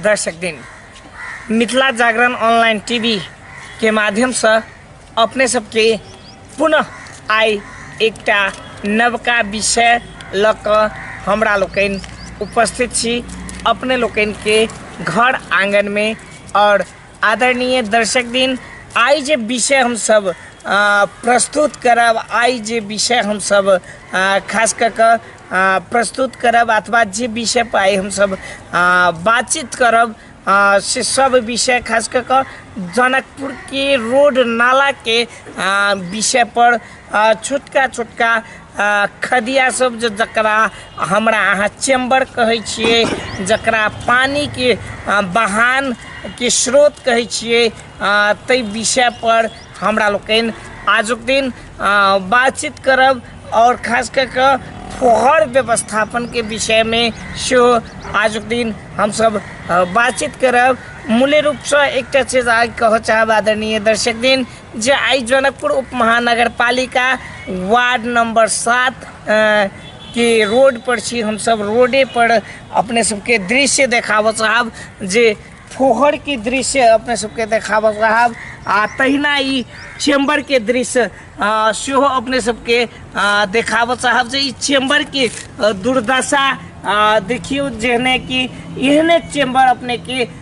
दर्शक दिन Mithila Jagran online TV के माध्यम से अपने सबके पुनः आइ एकटा नवका विषय लऽ कऽ हमरा लोकनि उपस्थित छी अपने लोकनि के घर आंगन में और आदरणीय दर्शक दिन आइ जे विषय हम सब आ, प्रस्तुत करब आइ जे विषय हम सब आ, खास कऽ कऽ आ, प्रस्तुत करब अथवा जे विषय पर आइ हम सब आ, बातचीत करब आ, से सब विषय खास कऽ कऽ जनकपुर के रोड नाला के आ, विषय पर आ, छोटका छोटका आ, खदिया सब जे जकरा हमरा अहाँ चेम्बर कहै छियै जकरा पानिके आ, बहान के स्रोत कहै छियै आ, ताहि विषय पर हमरा लोकनि आजुक दिन आ, बातचीत करब आओर खास कऽ कऽ फोहर व्यवस्थापनके विषयमे सेहो आजुक दिन हमसब आ, बातचीत करब मूल्य रूपसँ एकटा चीज आइ कहऽ चाहब आदरणीय दर्शक दिन जे आइ जनकपुर उपमहानगरपालिका वार्ड नम्बर सात के रोड पर छी हमसब रोडे पर अपने सबके दृश्य देखाबऽ चाहब जे फोहर के दृश्य अपने सबके देखाबऽ चाहब आ तहिना ई चेम्बर के दृश्य आ, सेहो अपने सबके आ, देखाबऽ चाहब जे ई चेम्बर के आ, दुर्दशा आ, देखियौ जेहने कि एहने चेम्बर अपने के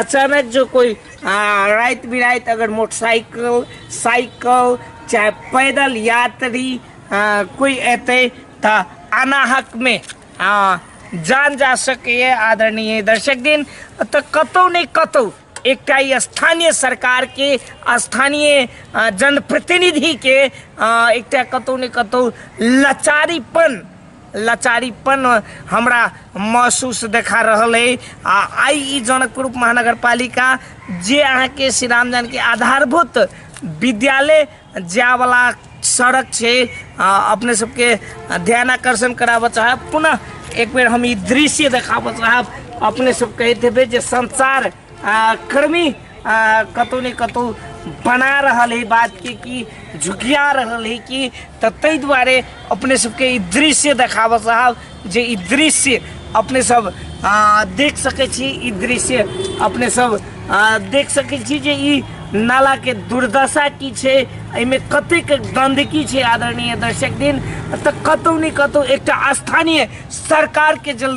अचानक जो कोई आ, रात बिरात अगर मोटरसाइकिल साइकिल चाहे पैदल यात्री आ, कोई एते त अनाहक में आ, जान जा सके आदरणीय दर्शक दिन त कतौ नहीं कतौ एकटा ई स्थानीय सरकार के स्थानीय आ, जनप्रतिनिधि के आ, एकटा कतौ ने कतौ लाचारीपन लाचारीपन हमरा महसूस देखा रहल है आ आई ई जनकपुर महानगर पालिका जे अहाँके श्री राम जानकी आधारभूत विद्यालय जावला सड़क छै आ, अपने सबके ध्यान आकर्षण कराबऽ चाहब पुनः एक बेर हम ई दृश्य देखाबऽ चाहब अपने सब कहैत हेबै जे संसार आ कर्मी आ कतहु ने कतहु बना रहल है बात के कि झुकिया रहल है कि तऽ ताहि दुआरे अपने सबके ई दृश्य देखाबऽ साहब जे ई दृश्य अपने सब आ, देख सकै छी ई दृश्य अपने सब आ, देख सकै छी जे ई नाला के दुर्दशा की छै एहिमे कतेक गंदगी छै आदरणीय दर्शक दिन तऽ कतहु ने कतहु एकटा स्थानीय सरकार के जल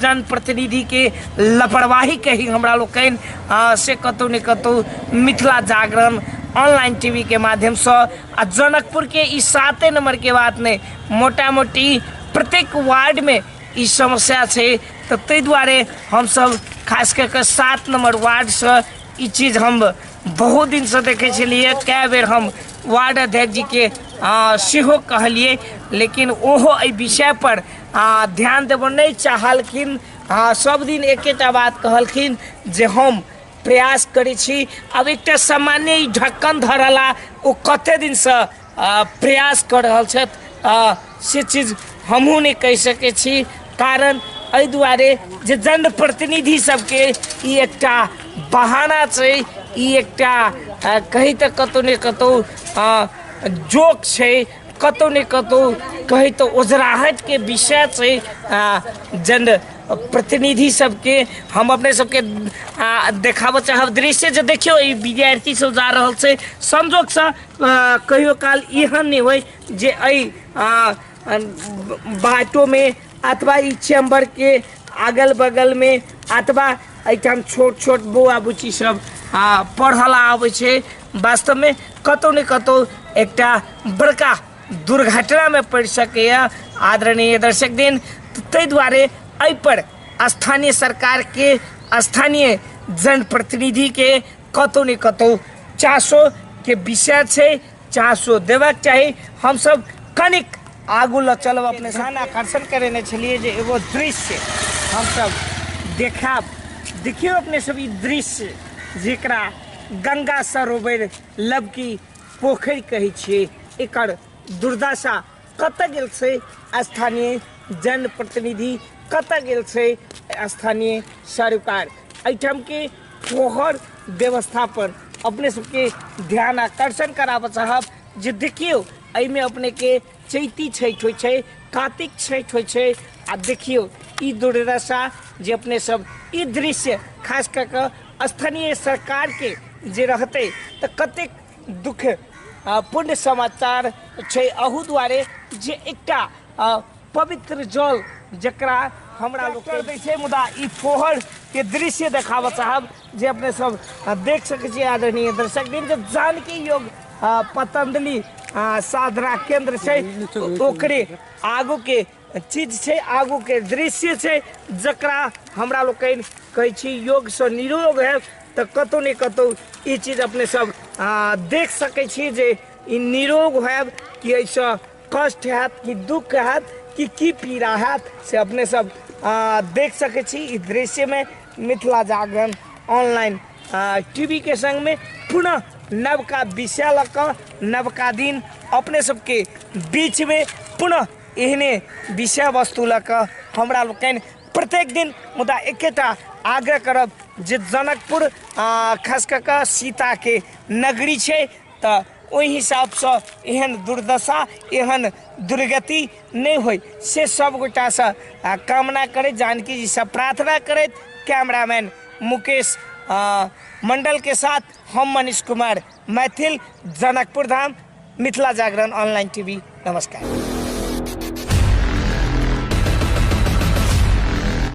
जनप्रतिनिधि के लापरवाही के ही हमरा लोग कैन आ, से कतौ ने कतौ मिथिला जागरण ऑनलाइन टीवी के माध्यम से आ जनकपुर के ई साते नंबर के बात ने मोटा मोटी प्रत्येक वार्ड में ई समस्या छै तऽ ताहि दुआरे हमसब खास कऽ कऽ सात नंबर वार्डसँ ई चीज हम बहुत दिनसँ देखै छलियै कए बेर हम वार्ड अध्यक्ष जी के आ, सेहो कहलिए लेकिन ओहो एहि विषय पर आ, ध्यान देबो नहीं चाहलखिन आ, सब दिन एकेटा बात कहलखिन जे हम प्रयास करै छी अब एकटा सामान्य ई ढक्कन धरला ओ कते दिन से आ, प्रयास कर रहल छथि आ, से चीज हमहूँ नहि कहि सकै छी कारण एहि दुआरे जे जनप्रतिनिधि सबके ई एकटा बहाना छै ई एकटा अ, कही तऽ कतहु ने कतहु अ, जोक छै कतहु ने कतहु कही तऽ ओझराहटके विषय छै आ, जन प्रतिनिधि सबके हम अपने सबके आ, देखाबऽ चाहब दृश्य जे देखियौ ई विद्यार्थी सब जा रहल छै संजोगसँ आ, कहियो काल एहन नहि होइ जे एहि बाटोमे अथवा ई चेम्बरके अगल बगलमे अथवा एहिठाम छोट छोट बौआ बुच्ची सब आ पढ़ल आबै छै वास्तवमे कतहु ने कतहु एकटा बड़का दुर्घटनामे पड़ि सकैए आदरणीय दर्शक दिन ताहि दुआरे एहिपर स्थानीय सरकारके स्थानीय जनप्रतिनिधिके कतहु ने कतहु चासोके विषय छै चासो देबाक चाही हमसब कनिक आगू लऽ चलब अपने ध्यान आकर्षण करेने छलिए जे एगो दृश्य हमसब देखाब देखियो अपने सब ई दृश्य जेकरा गंगा सरोवर लबकी पोखरि कहै छियै एकर दुर्दशा कतऽ गेल छै स्थानीय जनप्रतिनिधि कतऽ गेल छै स्थानीय सरकार एहिठाम के फोहर व्यवस्था पर अपने सबके ध्यान आकर्षण कराबऽ चाहब जे देखियौ एहिमे अपने के चैती छठि होइ छै कातिक छठि होइ छै आ देखियौ ई दुर्दशा जे अपने सब ई दृश्य खास कऽ कऽ स्थानीय सरकार के जे रहतै तऽ कतेक दुःख आ पुण्य समाचार छै अहू दुआरे जे एकटा अ, पवित्र जल जकरा हमरा लोक कर दै छै मुदा ई फोहर के दृश्य देखाबऽ चाहब जे अपने सब अ, देख सकै छियै आदरणीय दर्शक दिन जे जानकी योग अ, पतंजलि अ, साधना केंद्र छै ओकरे आगू के चीज छै आगूके दृश्य छै जकरा हमरा लोकनि कहै छी योगसँ निरोग है तऽ कतहु ने कतहु ई चीज अपने सब आ, देख सकै छी जे ई निरोग होयब कि एहिसँ कष्ट हैत कि दुख हैत कि की पीड़ा हैत से अपने सब आ, देख सकै छी ई दृश्यमे मिथिला जागरण ऑनलाइन टीवी के संग में पुनः नवका विषय लऽ कऽ नवका दिन अपने सबके बीच में पुनः एहने विषय वस्तु लऽ कऽ हमरा लोकनि प्रत्येक दिन मुदा एकेटा आग्रह करब जे जनकपुर आ खास कऽ कऽ सीताके नगरी छै तऽ ओहि हिसाबसँ एहन दुर्दशा एहन दुर्गति नहि होइ से सभगोटासँ आ, कामना करैत जानकी जीसँ प्रार्थना करैत कैमरामैन मुकेश आ, मंडल के साथ हम मनीष कुमार मैथिल जनकपुर धाम मिथिला जागरण ऑनलाइन टीवी नमस्कार